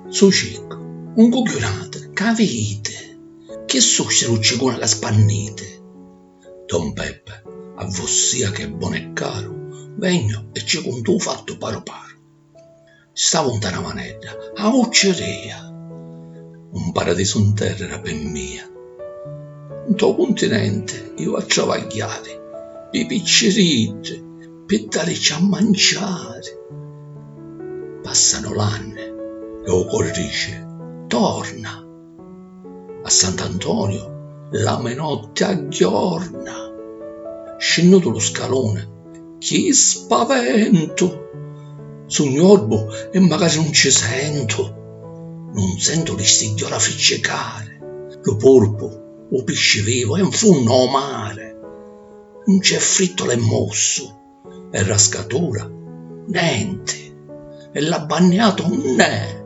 Su ciccu, un cugghiunatu, ca viditi? Chi susi lu cicuni la spanniti? Don Peppa, A vossia chi è bonu e caru, vegnu e ci cuntu u fattu paru paru. Stavu 'nta na manedda, a vucciria. Un paradisu 'n terra era pi mia. 'nto cuntinenti iu a travagghiari pî picciriddi, pi dàricci a manciari. Pàssanu l'anni e 'u cori dici, Torna! A Sant'Antonio l'ami notti a ghiorna. Scinnutu lu scaluni, chi spaventu! Sugnu orbu e macari nun ci sentu. Nun sentu li stigghiora ficcicari, lu purpu, u pisci vivu è 'n funnu ô mari. Nun c'è frittu l'è mossu. e ra scatura, nenti, e l'ha banniatu unn'è,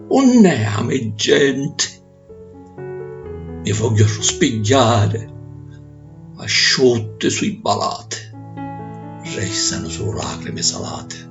unn'è a me genti? Mi vogghiu arruspigghiari, asciutti su' i balati, restanu sulu lacrimi salati.